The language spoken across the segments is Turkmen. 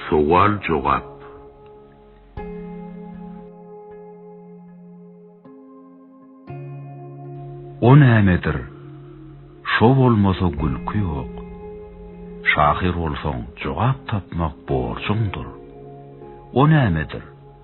Sowal-jogap. O nämedir? Şo bolmasa gülki ýok. Şahyr bolsaň, jogap tapmak borjuňdyr. O nämedir?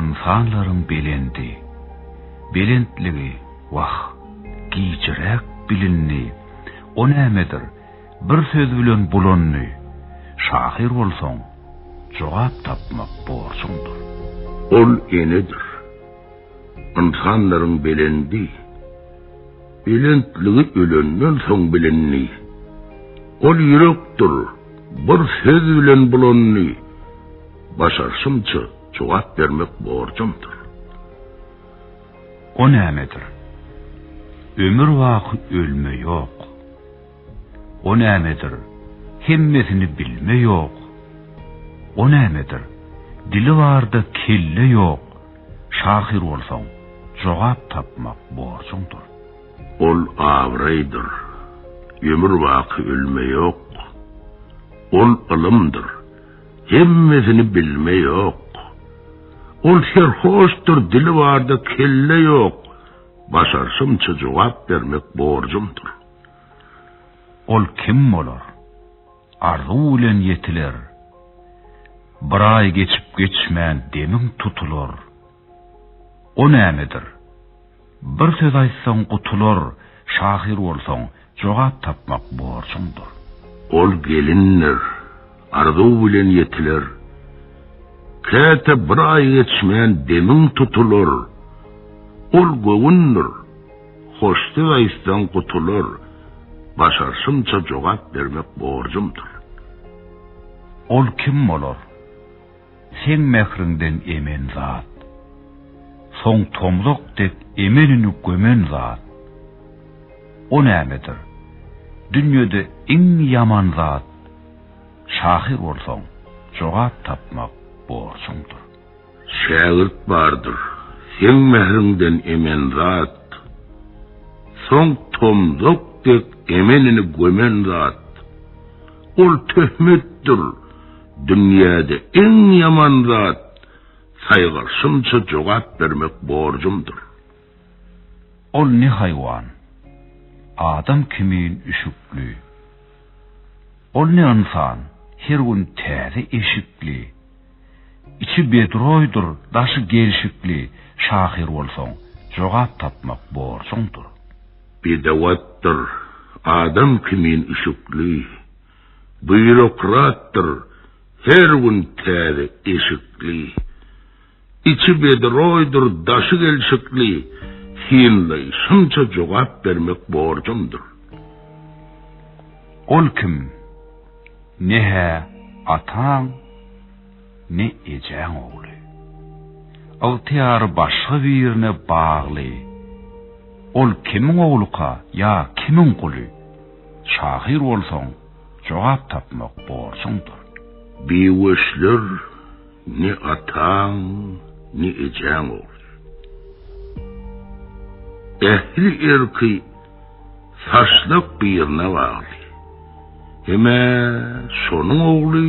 Ynsanlaryň belendi, belentligi, wah, gijiräk bilindi, o nämedir, bir söz bilen bulandy, şahyr bolsaň, jogap tapmak borjuňdyr. Ol enedir. Ynsanlaryň belendi, belentligi ölenden soň bilindi, ol ýürekdir, bir söz bilen bulandy, Başarşymça jogap bermek borjumdyr. O nämedir? Ömür baky ölme ýok. O nämedir? Hemmesini bilme ýok. O nämedir? Dili barda kelle ýok. Şahyr bolsaň, jogap tapmak borjuňdyr. Ol abraýdyr. Ömür baky ölme ýok. Ol ylymdyr. Hemmesini bilme ýok. Ol serhoşdyr, dili barda kelle ýok. Başarşymça jogap bermek borjumdyr. Ol kim bolar? Arzuw bilen ýetiler. Bir aý geçip geçmän demiň tutular. O nämedir? Bir söz aýtsaň gutular, şahyr bolsaň, jogap tapmak borjuňdyr. Ol gelindir, arzuw bilen ýetiler. Käte bir aý geçmän demiň tutular. Ol göwündir, hoş söz aýtsaň gutular, başarşymça jogap bermek borjumdyr. Ol kim bolar? Seň mähriňden emen zat. Soň tomzak dek emenini gömen zat. O nämedir? Dünýede iň ýaman zat. Şahyr bolsaň, jogap tapmak borjuňdyr. Şägirt bardyr, seň mähriňden emen zat. Soň tomzak dek emenini gömen zat. Ol töhmetdir. Dünýäde iň ýaman zat saýgarşymça jogap bermek borjumdyr. Ol ne haýwan? Adam kimin üşükli. Ol ne ynsan? Her gün täze eşikli. Içi bedroýdyr, daşy gelşikli şahyr bolsaň, jogap tapmak borjuňdyr. Bedewatdyr, adam kimin üşükli. Býurokratdyr her gün täze eşikli, Içi bedroýdyr daşy gelşikli, Synlaýşymça jogap bermek borjumdyr. Ol kim? Ne-hä ataň, ne ejäň ogly. Ygtyýary başga birine bagly. Ol kimiň ogluka ýa kimiň guly? Şahyr bolsaň, jogap tapmak borjuňdyr. Biweşler ne ataň, ne ejäň ogly. Ähli erki saçlak birine bagly. Hem-ä şonuň ogly.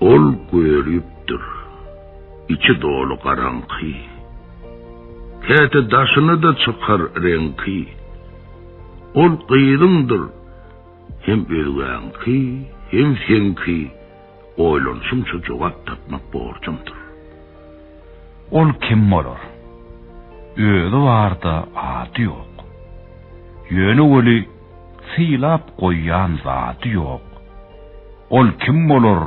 Ol gölüpdir. Içi doly garaňky. Käte daşyna-da çykar reňki. Ol gyzyňdyr. Hem özgäňki, hem seňki. Oýlanyşyňça jogap tapmak borjuňdyr. Ol kim bolar? Özi bar-da, ady ýok. Ýöne weli Sylap goýan zady ýok. Ol kim bolar,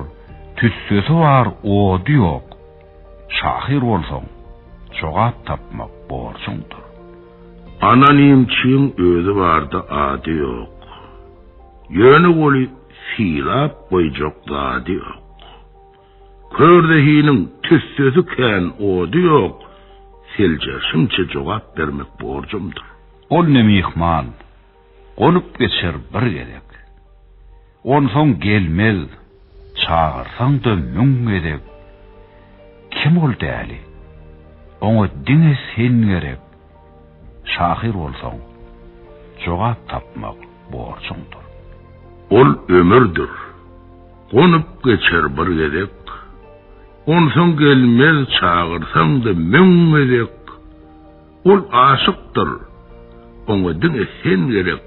tüssesi bar, ody ýok. Şahyr bolsaň, jogap tapmak borjuňdyr. Anonimçiň özi barda ady ýok. Ýöne oly sylap goýjak zady ýok. Kör zehiniň tüssesi kän, ody ýok, seljerişimçe jogap bermek borjumdyr. Ol ne myhman, gonup geçer bir gezek. Onsoň gelmez, çagyrsaň-da müň gezek. Kim ol däli? Oňa diňe sen gerek. Şahyr bolsaň, jogap tapmak borjuňdyr. Ol ömürdir, gonup geçer bir gezek, Onsoň gelmez çagyrsaň-da müň gezek. Ol aşykdyr, oňa diňe sen gerek,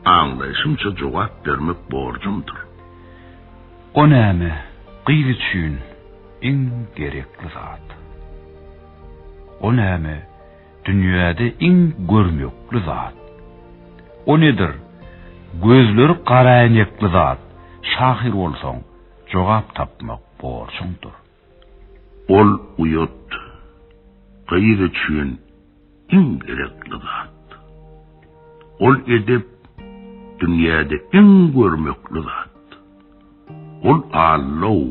Aňlaýşymça jogap bermek borjuňdyr. O näme, gyz üçin iň gerekli zat. O näme? Dünýäde iň görnükli zat. O nedir? Gözleri garaäýnekli zat. Şahyr bolsaň, jogap tapmak borjuňdyr. Ol uýat. Gyz üçin iň gerekli zat. Ol edep. Dünýäde iň görmekli zat. Ol Allow.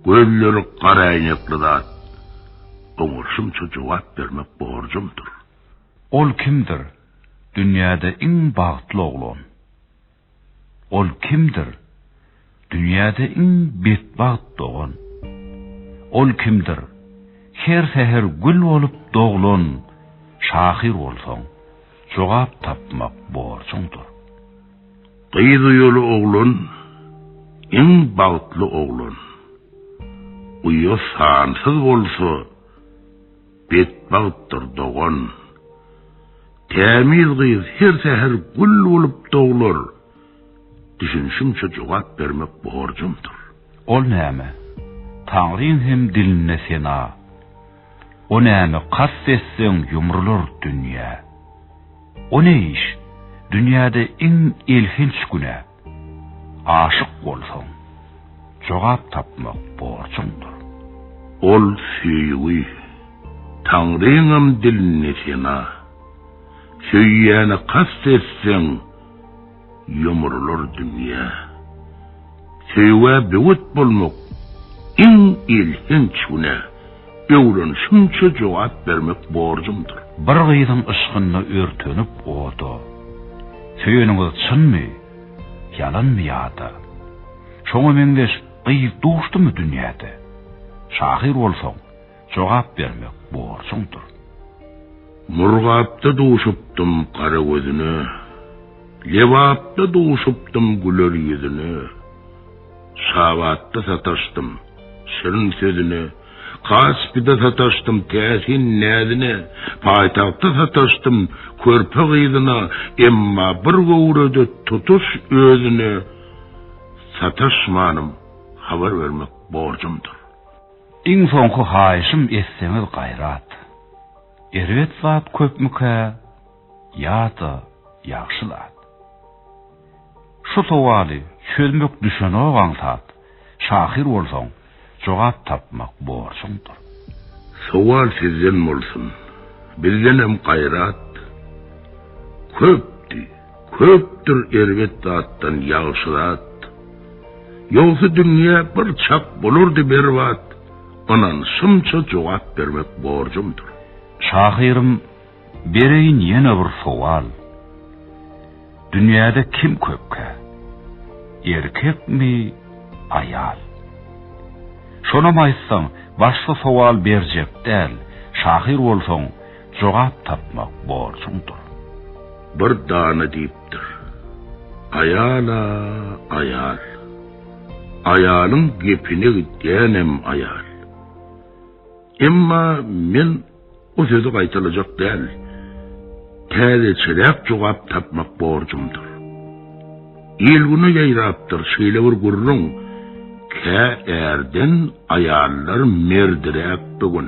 Gözleri garaäýnekli zat. Oňa şunça jogap bermek borjumdyr. Ol kimdir? Dünýäde iň bagtly oglan. Ol kimdir? Dünýäde iň betbagt dogan. Ol kimdir? Her säher gül bolup doglan şahyr bolsaň, jogap tapmak borjuňdyr. Gyz uýaly oglan, iň bagtly oglan. Uýa sansyz bolsa, betbagtdyr dogan. Tämiz gyz her säher gül bolup doglar, düşünişimçe jogap bermek borjumdyr. Ol näme? Taňryň hem dilinde sena. O näme kast etseň ýumrular dünýä. O ne iş, dünýäde iň elhenç günä. Aşyk bolsaň, jogap tapmak borjuňdyr. Ol söýgi, Taňryňam dilinde sena. Söýýäne kast etseň. Ýumrular dünýä. Söýgä böwet bolmak, iň elhenç günä. Öwrenişimçe jogap bermek borjumdyr. Bir gyzyň yşkynda örtenip oda. Söýeniňiz çynmy, ýalanmy ýa-da. Şoňa meňzeş gyz duşdumy dünýäde? Şahyr bolsaň. Jogap bermek borjuňdyr. Murgapda duşupdym gara gözüne, Lebapda duşupdym güler ýüzüne, Şabatda sataşdym şirin sözüne, Kaspide sataşdym täsin näzine, Paýtagtda sataşdym körpe gyzyna, Emma bir göwrede tutuş özüne Sataşmanym habar bermek borjumdyr. Iň soňky haýyşym etseňiz gaýrat. Erbet zat köpmükä ýa-da ýagşy zat? Şu sowaly çözmek düşenok aňsat, şahyr bolsaň jogap tapmak borjuňdyr. Sowal sizden bolsun, bizdenem gaýrat köpdi. Köpdür erbet zatdan ýagşy zat, Ýogsa dünýe bir çak bolardy berbat, Ynanşymça jogap bermek borjumdyr. Şahyrym, bereýin ýene bir sowal, Dünýäde kim köpkä, erkekmi, aýal? Şonam aýtsaň, başga sowal berjek däl, Şahyr bolsaň, Jogap tapmak borjuňdyr. Bir dana diýipdir. Aýal-a, aýal. Aýalyň gepine gidýänem aýal. Emma men o sözi gaýtalajak däl. Täzeçeräk jogap tapmak borjumdyr. Il-güne ýaýrapdyr şeýle bir gürrüň, Kä ärden aýallar merdiräk bu gün.